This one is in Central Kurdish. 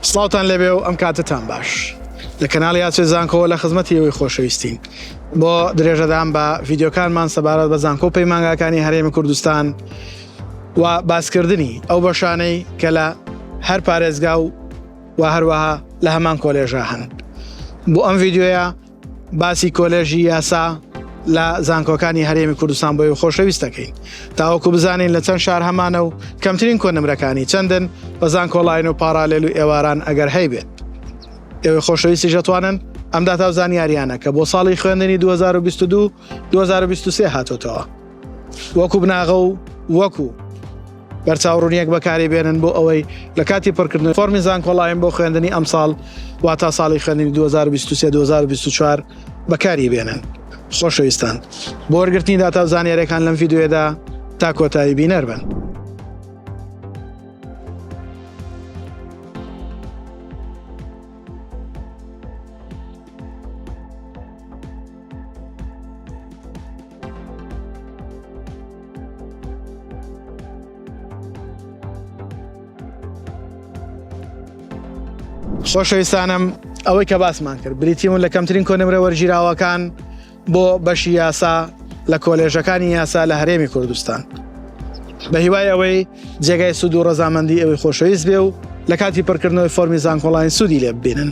سڵاوتان لێبێ و ئەم کاتەتان باش. لە کەناڵی ئاچێ زانکۆوە لە خزمەتی ئێوەی خۆشەویستین. بۆ درێژەدان بە ڤیدیۆکانمان سەبارەت بە زانکۆ و پەیمانگاکانی هەرێمی کوردستان و باسکردنی ئەو بەشانەی کە لە هەر پارێزگا و و هەروەها لە هەمان کۆلێژا هەن بۆ ئەم ڤیدیۆیە باسی کۆلێژی یاسا لە زانکۆکانی هەرێمی کوردستان بۆی خۆشەویست دەکەین تاوەکو بزانین لە چەند شار هەمانە و کەمترین کۆنمرەکانی چەندن بە زانکۆڵین و پارالێل و ئێواران ئەگەر هەیبێت ئێوەی خۆشەویستی ژەتوانن ئەم داتا و زانیاریانە کە بۆ ساڵی خوێندنی 2022 2023 هاتۆتەوە وەکو بناغە و وەکو بەرچاوڕونیەک بەکاری بێنن بۆ ئەوەی لە کاتی پڕکردن فۆرمی زانکۆڵایم بۆ خوێندنی ئەمساڵ وا تا ساڵی خوێندنی 2023-2024 بەکاری بێنن خۆشەویستان بۆ وەرگرتنی داتا و زانیارەکان لەم یددیوێدا تا کۆتایی بینەر بن. خۆشەویستانم ئەوەی کە باسمان کرد بریتیون لە کەمترین کۆنمرە وەرگیراوەکان بۆ بەشی یاسا لە کۆلێژەکانی یاسا لە هەرێمی کوردستان بە هیوای ئەوەی جێگای سوود و ڕەزامەندی ئەوەی خۆشەویست بێ و لە کاتی پڕکردنەوەی فۆرمی زانکۆڵین سوودی لێ ببینن